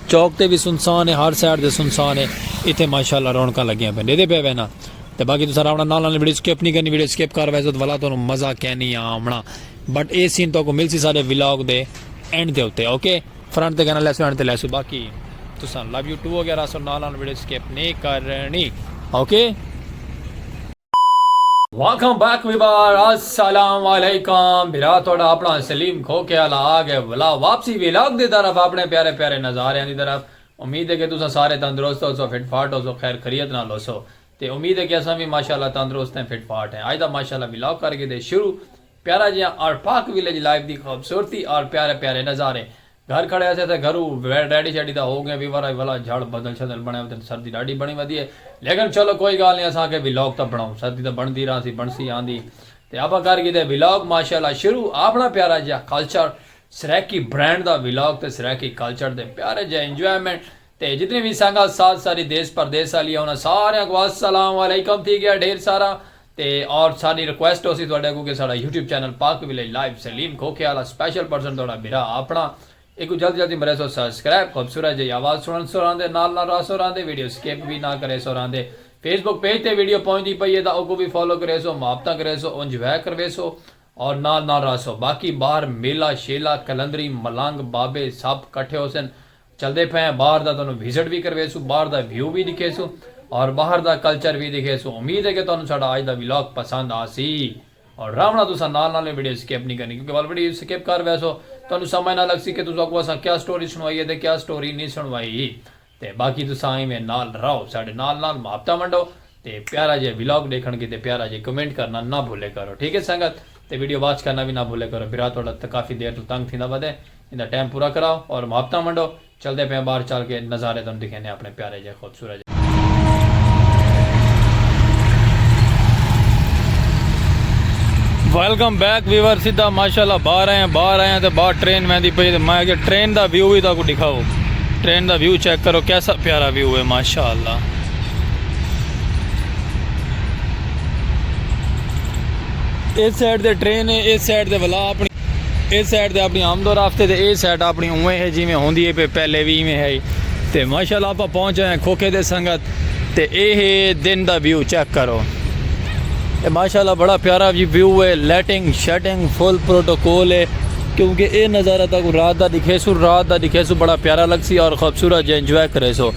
چوک تے وی سنسان ہے ہر سائیڈ تے سنسان ہے ایتھے ماشاءاللہ رونقاں لگیاں پئن ڈیدھے پئے وینا تے باقی تساں راونا نال نال ویڈیو سکپ نہیں کرنی ویڈیو سکپ کر ویسو تے ولا تانوں مزہ کینی آونا بٹ اے سین تہاکوں ملسی سارے ولاگ دے اینڈ دے اتے اوکے فرنٹ تے کہنا لیسو اینڈ تے لیسو باقی تساں لو یو ٹو وغیرہ سو نال نال ویڈیو سکپ نہیں کرنی اوکے واکم بیک ویوار السلام علیکم بھرا تہاڈا اپنا سلیم کھوکھے آلا آ گئے ولا واپسی ویلاگ دی طرف اپنے پیارے پیارے نظاریاں دی طرف امید ہے کہ تساں سارے تندرست ہوسو فٹ فاٹ ہوسو خیر خریت نال ہوسو تے امید ہے کہ اساں وی ماشاءاللہ تندرست ہیں فٹ فاٹ ہیں اج دا ماشاءاللہ ویلاگ کر گھدے شروع پیارا جیہاں آر پارک ویلیج لائف دی خوبصورتی آر پیارے پیارے نظارے گھر کھڑے ہاسے تاں گھرو ریڈی شیڈی دا ہو گئیں وی ورا وی ولا جھڑ بدل شدل بنڑے وتن سردی ڈاڈی بنڑی ودی ہے لیکن چلو کوئی گال نی اساں آکھے ولاگ تاں بنڑاؤں سردی تاں بنڑدی رہاسی بنڑسی آندی تے آپاں کر گھیدے ولاگ ماشاءاللہ شروع آپنڑا پیارا جیہا کلچر سرائیکی برینڈ دا ولاگ تے سرائیکی کلچر دے پیارے جیہے انجوائمنٹ تے جتنی وی سنگت ساتھ ساری دیس پردیس آلی ہے انہاں ساریاں کوں السلام علیکم تھی گیا ڈھیر سارا تے اور ساڈی ریکویسٹ ہوسی تہاڈے کوں کہ ساڈا YouTube channel Pak village live Salim کھوکھے آلا سپیشل پرسن تہاڈا بھرا آپنڑا ایکوں جلد جلدی مریسو سبسکرائب خوبصورت جئی آواز سنڑنسو راہندے نال نال راہسو راہندے ویڈیو سکپ وی نہ کریسو راہندے فیس بک پیج تے ویڈیو پہنچدی پئی ہے تاں اوکوں وی فالو کریسو محبتاں کریسو انجوائے کرویسو اور نال نال راہسو باقی باہر میلہ شیلہ قلندری ملنگ بابے سب کٹھے ہوسن چلدے پئے ہیں باہر دا تہانوں وزٹ وی کرویسوں باہر دا ویو وی ڈکھیسوں اور باہر دا کلچر وی ڈکھیسوں امید ہے کہ تہانوں ساڈا اج دا ولاگ پسند آسی اور راونا تساں نال نال ویڈیو سکپ نی کرنی کیونکہ ول ویڈیو سکپ کر ویسو تہانوں سمجھ نہ لگسی کہ تساکوں اساں کیا سٹوری سنوائی ہے تے کیا سٹوری نی سنوائی تے باقی تساں ایویں نال راہو ساڈے نال نال محبتاں ونڈو تے پیارا جئے ولاگ ڈیکھن کیتے پیارا جئے کمنٹ کرنا نہ بھولے کرو ٹھیک ہے سنگت تے ویڈیو واچ کرنا وی نہ بھولے کرو برا تہاڈا تے کافی دیر توں تنگ تھیندا ودے ایندا ٹائم پورا کراؤ اور محبتاں ونڈو چلدے پئے آں باہر چل کے نظارے تہاڈوں دکھیندے آں اپنے پیارے جئے خوبصورت جئے۔ ویلکم بیک ویور سیدھا ماشاءاللہ باہر آئے آں باہر آئے آں تے باہر ٹرین ویندی پئی تے میں اگے ٹرین دا ویو وی تہاکوں ڈکھاؤ ٹرین دا ویو چیک کرو کیسا پیارا ویو ہے ماشاءاللہ۔ اس سائڈ دے ٹرین ہے اس سائڈ دے ولا اپنی اس سائڈ دے اپنی آمد و رفتے دے اس سائڈ اپنی اوے ہے جی میں ہوندی ہے پہ پہلے بھی میں ہے تے ماشاءاللہ اپا پہنچ ہیں کھوکھے دے سنگت تے اے ہے دن دا ویو چیک کرو اے ماشاءاللہ بڑا پیارا جی ویو ہے لیٹنگ شیٹنگ فل پروٹوکول ہے کیونکہ اے نظارہ تاکو رات دا دکھے سو رات دا دکھے سو بڑا پیارا لگ سی اور خوبصورت جی انجوائے کرے سو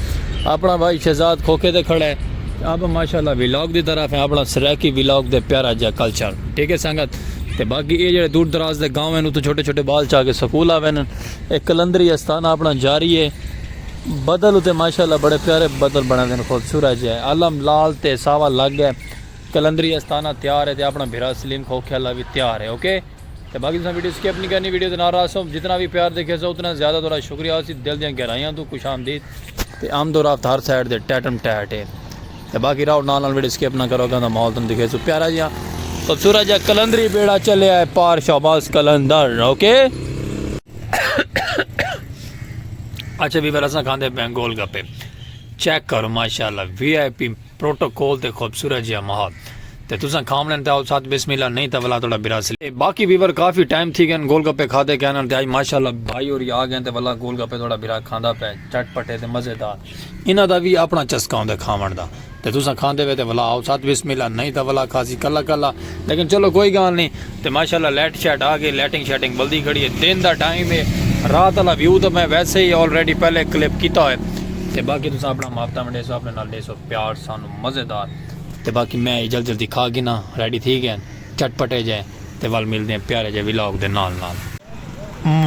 اپنا بھائی شہزاد کھوکھے تے کھڑا ہے تے آپ ماشاءاللہ ولاگ دی طرف ہیں اپنا سرائیکی ولاگ تے پیارا جا کلچر ٹھیک ہے سنگت تے باقی اے جڑے دور دراز دے گاؤں ہیں اتھوں چھوٹے چھوٹے بال چاہ کے سکول آوے ہیں اے کلندری استانہ اپنا جاری ہے بدل اتے ماشاءاللہ بڑے پیارے بدل بنا دے ہیں خود سورہ جا ہے علم لال تے ساوا لگ ہے کلندری استانہ تیار ہے تے اپنا بھرا سلیم کھوکھے اللہ بھی تیار ہے اوکے okay. تے باقی تساں ویڈیو سکپ نہیں کرنی ویڈیو دے نال رہسو جتنا بھی پیار دیکھے سو اتنا زیادہ تھوڑا شکریہ ہوسی دل دیاں گہرائیاں تو خوش آمدید تے آمد و رفت ہر سائیڈ دے ٹیٹم ٹیٹ ہے تے باقی راہو نال نال ویڈیو سکپ نہ کرو گا ماحول تم دیکھے سو پیارا جیاں خوبصورت جا کلندری بیڑا چلے آئے پار شہباز کلندر اوکے اچھا بھی برساں کھاندے بینگول گپے چیک کرو ماشاءاللہ وی آئی پی پروٹوکول تے خوبصورت جیہا ماحول تے تساں کھاونڑ تے آؤ ساتھ بسم اللہ نہیں تاں ولا تہاڈا برا سلیقہ اے باقی ویور کافی ٹائم تھی گئن گول گپے کھادے کینڑ تے آج ماشاءاللہ بھائی ہوری آ گئن تے ولا گول گپے تہاڈا برا کھاندا پئے چٹ پٹے تے مزیدار انہاں دا وی اپنڑا چسکا ہوندے کھاونڑ دا تے تساں کھاندے وے تے ولا آؤ ساتھ بسم اللہ نہیں تاں ولا کھاسی کلا کلا لیکن چلو کوئی گالھ نی تے ماشاءاللہ لائٹ شائٹ آ گئی لائٹنگ شائٹنگ بلدی کھڑی اے دن دا ٹائم اے رات آلا ویو تاں میں ویسے ہی آلریڈی پہلے کلپ کیتا ہوئے تے باقی تساں اپنڑا ماپتا ونڈیسو اپنڑے نال ڈیکھ سو پیار سانو مزیدار تے باقی میں جلدی جلدی کھا گھناں ریڈی تھی گئے ہن چٹ پٹے جے تے ول ملدے ہیں پیارے جے ولاگ دے نال نال۔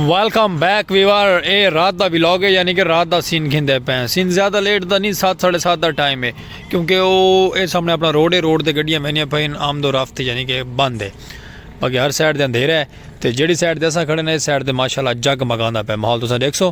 ویلکم بیک ویور اے رات دا ولاگ ہے یعنی کہ رات دا سین گھندے پئے ہیں سین زیادہ لیٹ دا نہیں سات ساڑھے سات دا ٹائم ہے کیونکہ او اے سامنے اپنا روڈ ہے روڈ تے گڈیاں ویندیاں پئے ہن آمد و رفت یعنی کہ بند ہے باقی ہر سائڈ تے اندھیرا ہے تے جیڑھی سائڈ تے اساں کھڑے نے اس سائڈ تے ماشاءاللہ جگ مگاندا پئے ماحول تساں ڈیکھ سو۔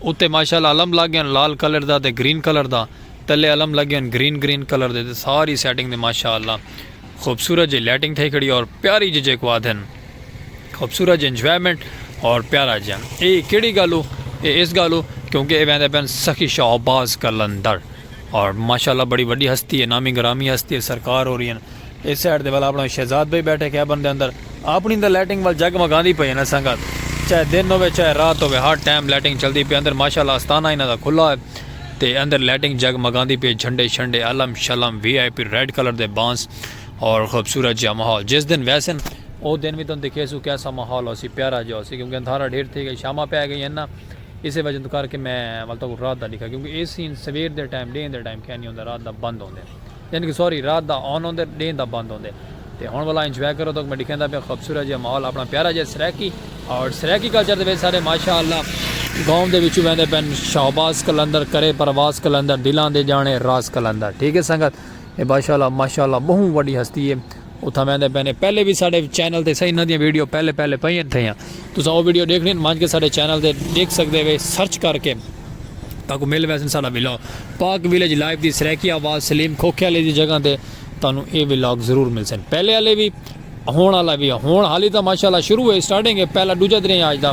اتے ماشاءاللہ علم لگ گئے ہن لال کلر دا تے گرین کلر دا تلے علم لگے ہن گرین گرین کلر دے تے ساری سیٹنگ دے ماشاءاللہ خوبصورت جے لائٹنگ تھئی کھڑی اور پیاری جے جے کو آدھن خوبصورت جے انجوائمنٹ اور پیارا جے اے کیڑی گالو اے اس گالو کیونکہ اے ویندے پن سخی شہباز کلندر اور ماشاءاللہ بڑی وڈی ہستی ہے نامی گرامی ہستی ہے سرکار ہو رہی ہیں اے سائیڈ دے ول آپنڑاں شہزاد بھئی بیٹھے کیبن دے اندر آپنڑی تے لائٹنگ ول جگ مگاندی پئی ہے نا سنگت چاہے دن ہووے چاہے رات ہووے ہر ٹائم لائٹنگ چلدی پئی اندر ماشاءاللہ استانہ انہاں دا کھلا ہے تے اندر لائٹنگ جگ مگاندی پئی ہے جھنڈے شنڈے علم شلم V I P red colour دے بانس اور خوبصورت جیہا ماحول جس دن ویسن او دن وی تہاں دکھیسوں کیسا ماحول ہوسی پیارا جیہا ہوسی کیونکہ اندھارا ڈھیر تھئی گئی شاماں پے گئی ہن نا اسے وجہ توں کر کے میں ول تہاکوں رات دا ڈکھا کیونکہ اے سین سویر دے ٹائم ڈینہہ دے ٹائم کائنی ہوندا رات دا بند ہوندے۔ یعنی کہ ساری رات دا آن ہوندے تے ڈینہہ دا بند ہوندے تے ہن ولا انجوائے کرو تہاکوں میں ڈکھیندا پیاں خوبصورت جیہا ماحول اپنا پیارا جیہا سرائیکی اور سرائیکی کلچر دے وچ سارے ماشاء اللہ گاؤں دے وچوں ویندے پن شہباز قلندر کرے پرواز قلندر دلاں دے جانے راز قلندر ٹھیک ہے سنگت اے باشاء اللہ ماشاء اللہ بہوں وڈی ہستی ہے اتھاں ویندے پئے نے پہلے وی ساڈے چینل تے سہی انہاں دیاں ویڈیو پہلے پہلے پئین تھیاں تساں او ویڈیو ڈیکھنی ہن ونج کے ساڈے چینل تے ڈیکھ سکدے وے سرچ کر کے تاکوں مل ویسن ساڈا ولاگ پاک ویلیج لائف دی سرائیکی آواز سلیم کھوکھے والے دی جگہ تے تانوں اے ولاگ ضرور ملسن پہلے والے وی ہون والا وی ہون حالی تاں ماشاءاللہ شروع ہے سٹارٹنگ ہے پہلا دوجا درے آج دا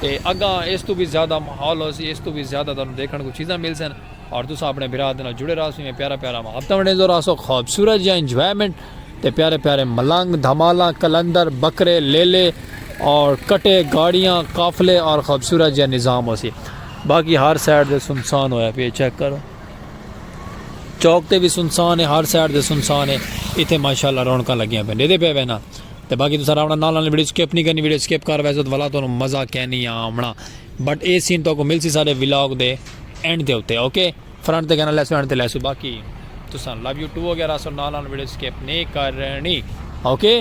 تے اگاں اس تو وی زیادہ ماحول ہوسی اس تو وی زیادہ تانوں دیکھن کو چیزاں ملسن اور تساں اپنے بھرا دے نال جڑے راہسو ایویں پیارا پیارا محبتاں ونڈیندو راہسو خوبصورت جیاں انجوائمنٹ تے پیارے پیارے ملنگ دھمالاں قلندر بکرے لیلے اور کٹے گاڑیاں قافلے اور خوبصورت جیاں نظام ہوسی باقی ہر سائیڈ دے سنسان ہویا پی چیک کرو چوک تے بھی سنسان ہے ہر سائیڈ دے سنسان ہے ایتھے ماشاءاللہ رونکاں لگیاں پہ ڈیدے پہ وینا تے باقی تساں راونا نال نال ویڈیو سکپ نہیں کرنی ویڈیو سکپ کر ویسو تو ولا تو مزہ کینی آمنا بٹ اے سین تہاکوں ملسی ساڈے ولاگ دے اینڈ دے اتے اوکے فرنٹ تے گھنا لیسوں اینڈ تے لیسوں باقی تساں لو یو ٹو وغیرہ سو نال نال ویڈیو سکپ نی کرنی اوکے۔